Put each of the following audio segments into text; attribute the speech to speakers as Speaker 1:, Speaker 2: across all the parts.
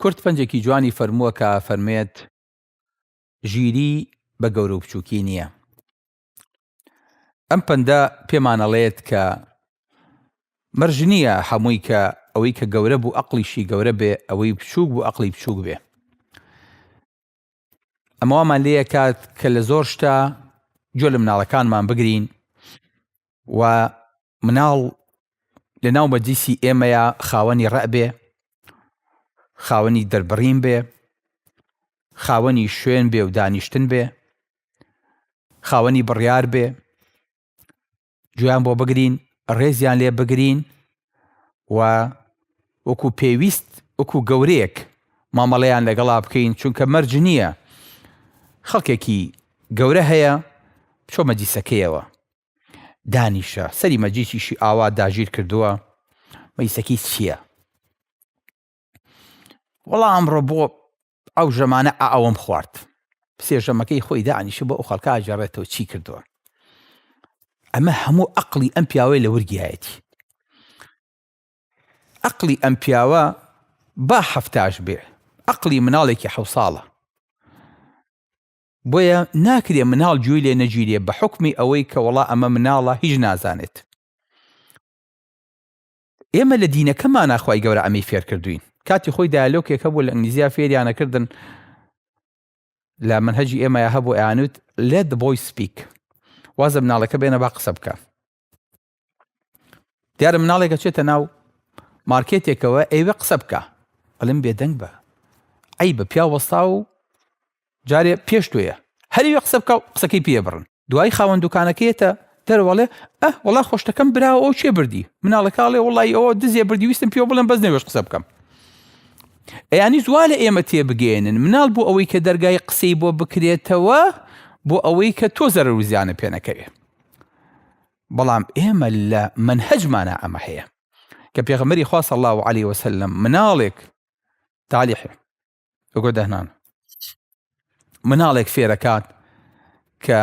Speaker 1: کورد پەنجێکی جوانی فەرمووە کە ئەفەرموێت، ژیری بە گەورە و بچووکی نییە. ئەم پەندە پێمان ئەڵێت کە مەرج نییە هەمووی کە ئەوەی کە گەورە بوو ئەقڵیشی گەورە بێ، ئەوەی بچووک بوو ئەقڵی بچووک بێ. ئەمە وامان لێ ئەکات کە لە زۆر شتە گوێ لە مناڵەکانمان بگرین و مناڵ لە ناو مەجلیسی ئێمەیە خاوەنی ڕەع بێ خاوەنی دەربڕین بێ خاوەنی شوێن بێ و دانیشتن بێ خاوەنی بڕیار بێ گوێیان بۆ بگرین ڕێزیان لێ بگرین و وەکو پێویست وەکو گەورەیەک مامەڵەیان لەگەڵا بکەین چونکە مەرج نییە خەڵکێکی گەورە هەیە چۆ مەجیسەکەیەوە دانیشە سەری مەجیسیشی ئاوا داگیر کردووە مەیسەکی چییە وەڵا ئەمڕۆ بۆ ئەو ژەمانە ئاوم خوارد سێ ژەمەکەی خۆی دانیشە بۆ ئەو خەڵکە ئاجارڕێتەوە چی کردووە ئەمە هەموو ئەقلی ئەم پیاوەی لە ورگایەتی ئەقلی ئەم پیاوە با هەفتاش بێ ئەقلی مناڵێکی حە ساڵە بۆیە ناکرێ مناڵ جوێی لێ نەگیرێ بە حکمی ئەوەی کە وڵا ئەمە مناڵە هیچ نازانێت ئێمە لە دینەکەمانا خوای گەورە ئەمەی فێرکردوین کاتی خۆی دایالۆکێک هەبوو لە ئنگلیزیا فێریانەکردن لە منهجی ئێمەیە هەبوو ئەیانوت let the boy speak وازە مناڵەکە بێنە با قسە بکە دیارە مناڵێکە چێتە ناو مارکێتێکەوە ئێوە قسە بکە ئەلم بێدەنگ بە ئەی بە پیا وەستا و جارێ پێش تۆیە هەریوە قسە بکا و قسەکەی پێ بڕن دوایی خاوەن دوکانەکەیەتە دەرەوە ئەڵێ ئە وەڵا خۆشتەکەم براوە ئەو کێ بردی مناڵەکە ئەڵێ وەڵای ئەوە دزێ بردی ویستم پێ بڵێم بەس نەوێش قسە بکەم ئەیانی زوا لە ئێمە تێبگەێنن مناڵ بۆ ئەوەی کە دەرگای قسەی بۆ بکرێتەوە بۆ ئەوەی کە تۆ زەرەر و زیانە پێ نەکەوێ بەڵام ئێمە لە منهجمانە ئەمە هەیە کە پێغەمەری خوا صلی الله عليه وسلم مناڵێک تالیح ئەگۆ دەهنان مناڵێک فێرەکات کە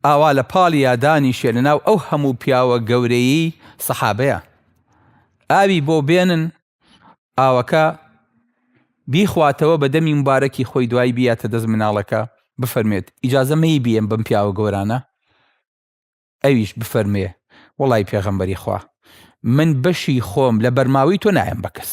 Speaker 1: ئاوا لە پاڵ یادانی شێ لە ناو ئەو هەموو پیاوە گەورەیی سەحابەیە ئاوی بۆ بێنن ئاوەکە بیخواتەوە بە دەمی مبارەکی خۆی دوای بیاتە دەست مناڵەکە بفەرمێت ئیجازە مەی بیێن بم پیاوە گەورانە ئەویش بفەرمێ وڵی پێغەمبەری خوا من بەشی خۆم لە بەرماوی تۆ نایەن بە کەس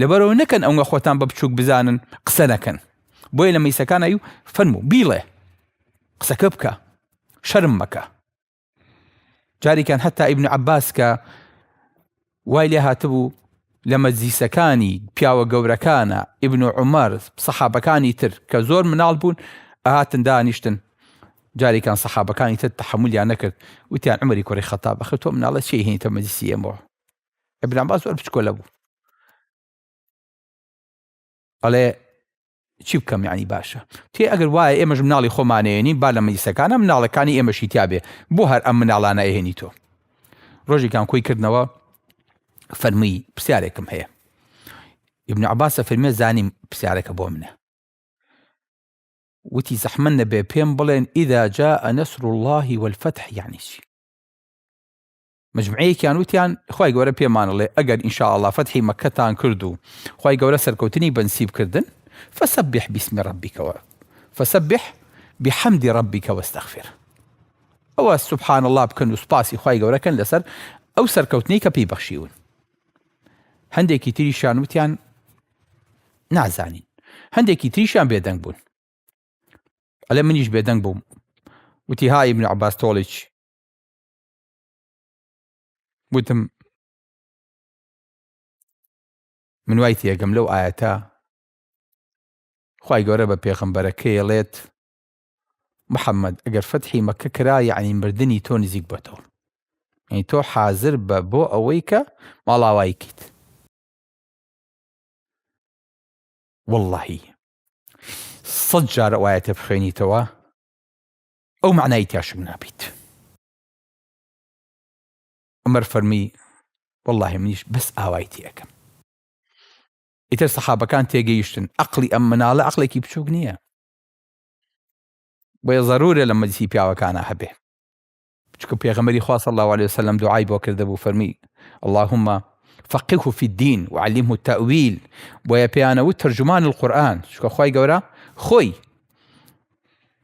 Speaker 1: لەبەرئەوە نەکەن ئەونگە خۆتان بە بچوک بزانن قسە نەکەن بۆیە لە مەیسەکان ئەیو فەرموو بیڵێ قسەکە بکە شەرم مەکە جاریکان هەتا ئیبن عباس کە وای لێ هاتبوو لە مەجلیسەکانی پیاوە گەورەکانە ئیبن و عمر سەحابەکانی تر کە زۆر مناڵ بوون ئەهاتن دانیشتن جاریکان سەحابەکانی تر تحملیان نەکرد وتیان عمری کوڕی خەتا بەخر تۆ مناڵە چی هینتە مەجلیسی ئێمەوە ابن عباس زۆر بچکۆلە بوو ئەڵێ چی بکەم یعنی باشە تێ ئەگەر وایە ئێمەش مناڵی خۆمانێنی با لە مەیسەکانە مناڵەکانی ئێمەشی تیاابێ بۆ هەر ئەم مناڵانە ئەهێنی تۆ ڕۆژێکان کۆی کردنەوە فەرمووی پرسیارێکم هەیە ابن عباسە فەرمێ زانیم پرسیارەکە بۆ منە وتی زەحمە نەبێ پێم بڵێن ئیدا جا ئەنەسر اللهی وەفتح یانیشی مجمعەیەکیان وتیان خوای گەورە پێمانڵێ ئەگەر ئینشاءاللە فەتحی مەکەتان کرد و خوای گەورە سەرکەوتنی بەنسیب کردن فسبح باسم ربک و فسبح بحمد ربک واستغفر ئەوە سبحان الله بکەن و سپاسی خوای گەورەکەن لەسەر ئەو سەرکەوتنی کە پێی بەخشیون هەندێکی تریشان وتیان نازانین هەندێکی تریشان بێدەنگ بوون ئەلێ منیش بێدەنگ بووم وتی ها ئیبن عباس تۆڵیچ گوتم من وای تێگەم لەو ئاەتە خی گەورە بە پێغەمبەرەکەیڵێت محەممەد ئەگەر فەتحی مەکە کرا یعنی مردنی تۆ نزیک بەتەوە یعنی تۆ حازر بە بۆ ئەوەی کە ماڵاوایکیت واللهی سەد جارە وایەتە بخوێنیتەوە ئەو معنای تاشم نابیت عومەر فەرمی، وەڵڵاهی منیش بەس ئاوای تێ ئەکەم. ئیتر سەحابەکان تێگەیشتن ئەقڵی ئەم مناڵە ئەقڵێکی بچووک نییە. بۆیە ضرورە لە مەجلیسی پیاوەکانە هەبێ. چونکە پێغەمبەری خوا صلی الله علیه وسلم دوعای بۆ کردبوو فەرمی اللهم فقهه في الدين وعلمه التأويل بۆیە پێیانەوت ترجمان القرآن چونکە خوای گەورە خۆی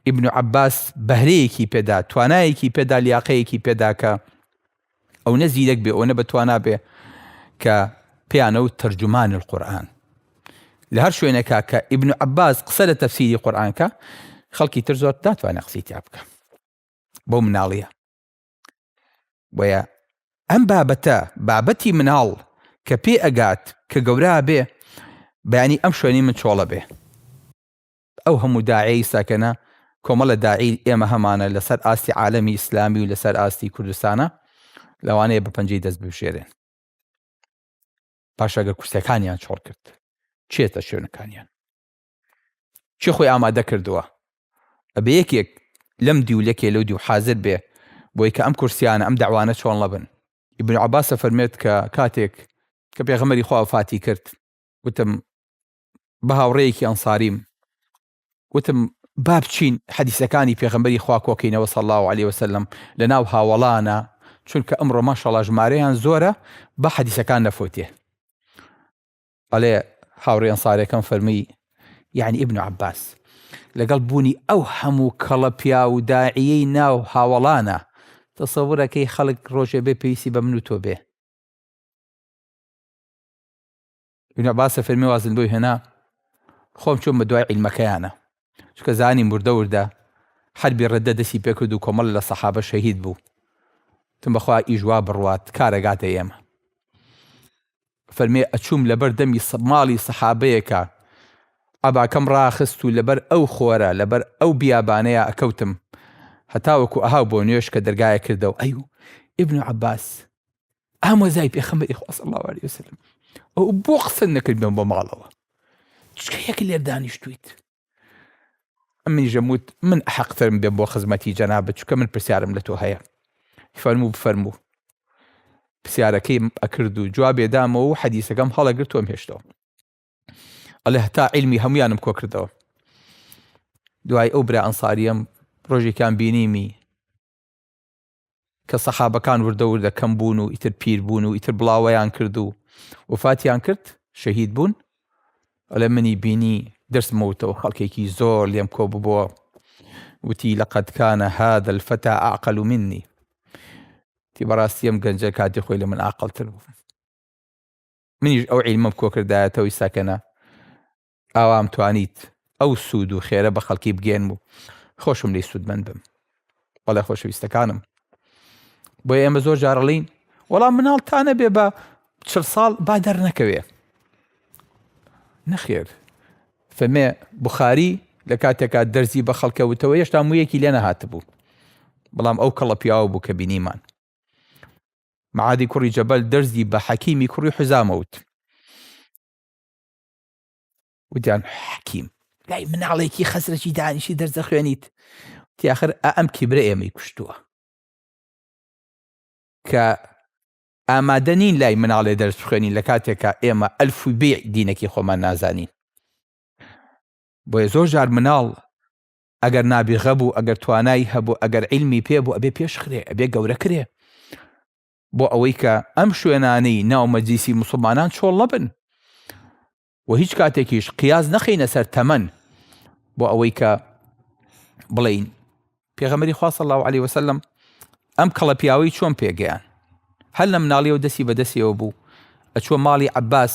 Speaker 1: ئیبن عەباس بەهرەیەکی پێدا، توانایەکی پێدا، لیاقەیەکی پێدا کە ئەونە زیرەک بێ، ئەونە بەتوانا بێ کە پێیانەوت تەرجومان القورئان. لە هەر شوێنێکا کە ئیبن عەباس قسە لە تەفسیری قورئان کە، خەڵکی تر زۆر ناتوانێ قسەی تیا بکە. بەو مناڵیە. بۆیە ئەم بابەتە بابەتی مناڵ کە پێ ئەگات کە گەورا بێ بەیانی ئەم شوێنی من چۆڵە بێ. ئەو هەموو داعیەی سەکنە کۆمەڵە داعیل ئێمە هەمانە لەسەر ئاستی عالەمی ئیسلامی و لەسەر ئاستی کوردستانە لەوانەیە بە پەنجەی دەست ببژێرێن پاشەگە کورسەکانیان چۆڵ کرد چێتە شوێنەکانیان چی خۆی ئامادە کردووە ئەبێ یەکێک لەم دیو لەکێ لەو دیو حازر بێ بۆی کە ئەم کورسیانە ئەم داوانە چۆن لەبن ئیبن عباسە فەرمێت کە کاتێک کە پێغەمەری خوا فاتی کرد وتم بە هاوڕێیەکی ئەنساریم وتم با بچین حەدیسەکانی پێغەمبەری خوا کۆکەینەوە صلی الله علیه وسلم لە ناو هاوەڵانە چونکە ئەمڕۆ ماشەڵا ژمارەیان زۆرە بە حەدیسەکان نەفوتێ ئەڵێ هاوڕێ ئەنسارەکەم فەرمی یعنی ابن عباس لەگەڵ بوونی ئەو هەموو کەڵە پیا و داعیەی ناو هاوەڵانە تەسەورەکەی خەڵک ڕۆژێ بێ پێویستی بە من و تۆ بێ ابن عباس فەرمی وازن بۆی هێنا خۆم چۆن بە دوای عیلمەکەیانە چکە زانی مردە وردە حربی ڕدە دەسی پێکرد و کۆمەڵ لە سەحابە شەهید بوو تم بەخوا ئیژوا بڕوات کارەگاتە ئێمە فەرمێ ئەچووم لەبەر دەمی ماڵی سەحابەیەکە ئەباکەم ڕاخست و لەبەر ئەو خۆرە لەبەر ئەو بیابانەیە ئەکەوتم هەتاوەکو ئەها بۆ نوێش کە دەرگایە کردەوە ئەی و ئبن عباس ئەمە زای پێخەمەری خواست الله عليه وسلم ئەو بۆ قسە نەکردن بۆ ماڵەوە چکە یەک لێر دانیشتویت ئەمنی ژەموت من حەقترم بێ بۆ خزمەتی جەنا بچکە من پرسیارم لە تۆ هەیە فەرموو بفەرموو پرسیارەکەی ئەکرد و جوابێ دامەوە و حەدیسەکەم هەڵەگر تۆم هێشتەوە ئەلێ هەتا علمی هەمویانم کۆ کردەوە دوای ئەو برا ئەنساریەم ڕۆژێکیان بینیمی کە سەحابەکان وردە وردە کەم بوون و ئیتر پیر بوون و ئیتر بڵاوەیان کرد و وفاتیان کرد شەهید بوون ئەڵێ منی بینی درسمەوتەوە خەڵکێکی زۆر لێم کۆ ببووە وتی لەقد کانە هذا الفتى اعقل مني تی بەڕاستی ئەم گەنجە کاتی خۆی لە من ئاقلتر بوو منیش ئەو عیلمەم کۆکردایەتەوەی ساکەنە ئاوام توانیت ئەو سوود و خێرە بە خەڵکی بگەێنم و خۆشم لی سوودمەند بم بەڵێ خۆشەویستەکانم بۆ ئێمە زۆر جارڵین وەڵام مناڵ تا نەبێ بە چ ساڵ با دەرنەکەوێ نەخێر فەمێ بخاری لە کاتێکا دەرزی بە خەڵکەوتەوە هێشتا مویەکی لێ نەهاتبوو بەڵام ئەو کەڵە پیاوە بوو کە بینیمان معادی کوڕی جەبەل دەرزی بە حەکیمی کوڕی حزامەوت وتیان حەکیم لای مناڵێکی خەسرەکی دانیشی دەرزە خوێنیت تیاخر ئەم کیبرە ئێمەی کوشتووە کە ئامادە نین لای مناڵێ دەرس خوێنین لە کاتێکە ئێمە ئەلف و بێ دینەکی خۆمان نازانین بۆیە زۆر جار مناڵ ئەگەر نابیغە بوو ئەگەر توانای هەبوو ئەگەر علمی پێ بوو ئەبێ پێشخرێ ئەبێ گەورە کرێ بۆ ئەوەی کە ئەم شوێنانەی ناو مەجلیسی موسڵمانان چۆڵ نەبن و هیچ کاتێکیش قیاز نەخینە سەر تەمەن بۆ ئەوەی کە بڵین پێغەمەری خواصل الله عليه وسلم ئەم کەڵە پیاوەی چۆن پێگەیان هەر لە مناڵی و دەستی بەدەستیەوە بوو ئەچوە ماڵی عباس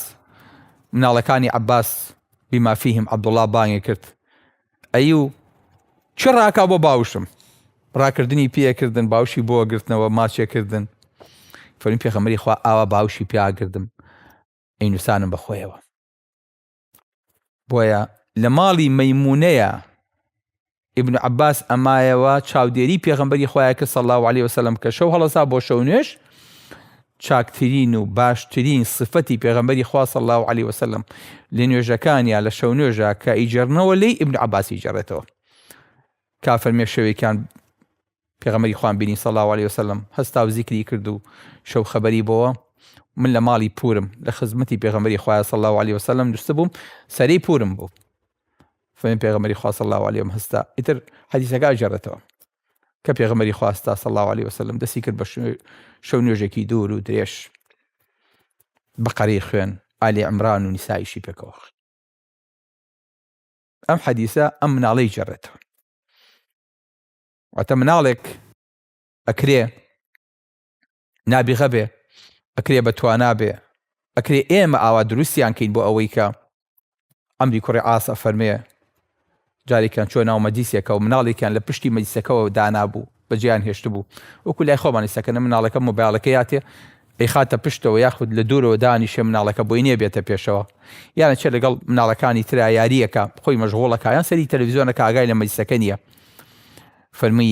Speaker 1: مناڵەکانی عباس بمافیهم عبدڵا بانگێ کرد ئەی و چ ڕاکا بۆ باوشم ڕاکردنی پێکردن باوشی بۆ گرتنەوە ماچێکردن فەرمی پێخەمەری خوا ئاوا باوشی پیاگردم ئینوسانم بە خۆیەوە بۆیە لە ماڵی مەمونەیە ئبن عباس ئەمایەوە چاودێری پێغمبەری خۆیان کە سەڵاو عليه وسلم کە شەو هەڵسا بۆ شەو نوێش چاکترین و باشترین سفەتی پێغەمبەری خوا صلی اللە علیە وسلم لە نوێژەکانیا لە شەونوێژە کە ئیجێڕنەوە لێی ابن عباسی ئیجێڕێتەوە کا فەرمێ شەوێکیان پێغەمبەری خوان بینی صلی اللە علیە وسلم هەستا و زیکری کرد و شەو خەبەری بۆوە من لە ماڵی پورم لە خزمەتی پێغەمبەری خوای صلی اللە علیە وسلم نووسە بووم سەری پورم بوو فەرمی پێغەمبەری خوا صلی اللە علیە هەستا ئیتر حەدیثەکە ئەجێڕێتەوە کە پێغەمبەری خوا ستا صلی الله علیه وسلم دەستی کرد بە شەو نوێژێکی دوور و درێژ بەقەرەی خوێن ئالی عمران و نیسایشی پێکەوە ئەم حەدیسە ئەم مناڵەی جێڕێتەوە واتە مناڵێک ئەکرێ نابیغە بێ ئەکرێ بە توانا بێ ئەکرێ ئێمە ئاوا دروستیان کەین بۆ ئەوەی کە ئەمری کوڕی عاس ئەفەرمێ جارێکیان چۆ ناو مەجیسێکە و مناڵێکیان لە پشتی مەجیسەکەەوە دانابوو بەجیان هێشتبوو وەکو لای خۆمانی سەکەنە مناڵەکە مۆبایلەکە یاتێ ئەی خاتە پشتەوە یاخود لە دوورەوە دانیشێ مناڵەکە بۆی نییە بێتە پێشەوە یانە چێ لەگەڵ مناڵەکانی ترا یاریەکە خۆی مەژغۆڵەکە یان سەری تەلویزیۆنەکە ئاگای لە مەجیسەکە نییە فەرمی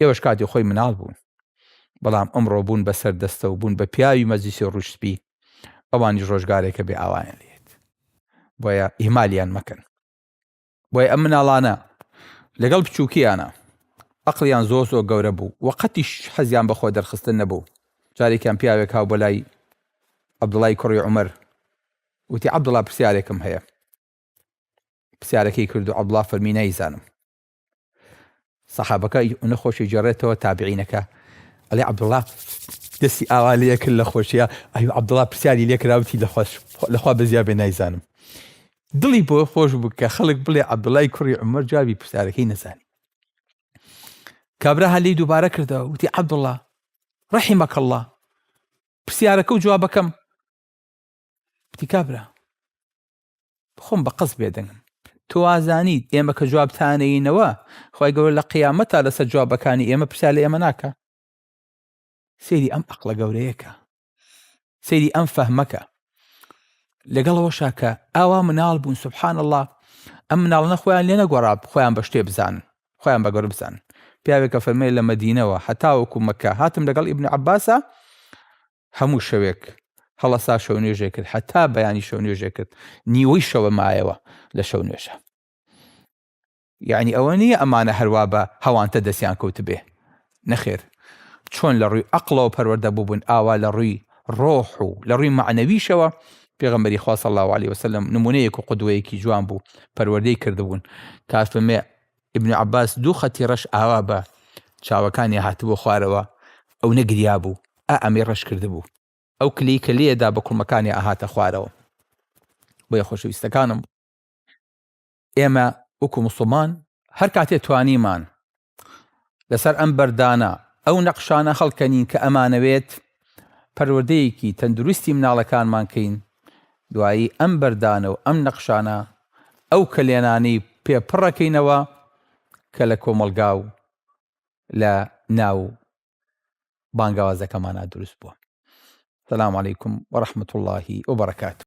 Speaker 1: ئێوەش کاتی خۆی مناڵ بوون بەڵام ئەمڕۆ بوون بە سەر دەستە و بوون بە پیاوی مەجلیسی ڕووش سپی ئەوانیش ڕۆژگارێکە بێ ئاوایان لێت بۆیە ئیمالیان مەکەن بۆیە ئەم مناڵانە لەگەڵ بچووکیانە ئەقلیان زۆر زۆر گەورە بوو و قەتیش حەزیان بەخۆ دەرخستن نەبوو جارێکیان پیاوێک هاو بۆ لای عەبدوڵای کوڕی عمر وتی عەبدوڵا پرسیارێکم هەیە پرسیارەکەی کرد و عەبدوڵا فەرمی نایزانم سەحابەکە ئەونە خۆشی جێڕێتەوە تابعینەکە ئەلی عبدڵا دەستی ئاوا لە کرد لە خۆشیە ئەو عبدڵا پرسیاری لێکراوتی لە خۆش لەخوا بەزیا بێ نایزانم دڵی بۆ خۆش بکە خەڵک بڵێ عبدڵای کوڕی عمر جوابی پرسیارەکەی نەزانی کابرا هەلی دووبارە کردەوە وتی عبدڵا ڕحی مەکەڵڵا پرسیارەکە و جوابەکەم وتی کابرا خۆم بە قەست بێدەنگم. تۆ ئازانیت ئێمە کە جواب تانەینەوە خوای گەورە لە قیامەت تا لەسەر جوابەکانی ئێمە پرسیار لە ئێمە ناکە سری ئەم ئەقلە گەورەیەکە سری ئەم فەهمەکە لەگەڵەوەشا کە ئاوا مناڵ بوون سبحان الله ئەم مناڵنە خۆیان لێ نەگۆڕاب خۆیان بە شتێ بزان خۆیان بە گەور بزان پیاوێکە فەرمێ لە مەدینەوە هەتاوەکو مەکە هاتم لەگەڵ ئیبن عباسە هەموو شەوێک هەڵەسا شەو نوێژێ کرد هەتا بەیانی شەو نوێژێ کرد نیوەی شەوە مایەوە لە شەو نوێژە یعنی ئەوە نییە ئەمانە هەروا بە هەوانتە دەستیان کەوتبێ نەخێر چۆن لە ڕووی ئەقلەوە پەروەەردە بووبوون ئاوا لە ڕووی ڕۆح و لە ڕووی معنەویشەوە پێغمبەری خواص الله عليه وسلم نمونەیەک و قدوەیەکی جوان بوو پەروەردەی کردبوون تاسمێ ابن عباس دوو خەتی ڕەش ئاوا بە چاوەکانی هاتبووە خوارەوە ئەو نەگریا بوو ئا ئەمەی ڕەش کردبوو. ئەو کلەی کە لێ دا بە کوڵمەکانی ئەهاتە خوارەوە. بۆیە خۆشەویستەکانم ئێمە وەکو موسڵمان هەر کاتێ توانیمان لەسەر ئەم بەردانە ئەو نەقشانە هەڵکەنین کە ئەمانەوێت پەروەردەیەکی تەندروستی مناڵەکانمان کەین، دوایی ئەم بەردانە و ئەم نەقشانە ئەو کەلێنانەی پێ پڕەکەینەوە کە لە کۆمەڵگا و لە ناو بانگەوازەکەمانا دروست بووە. سلام علیکم و رحمت الله و برکاته.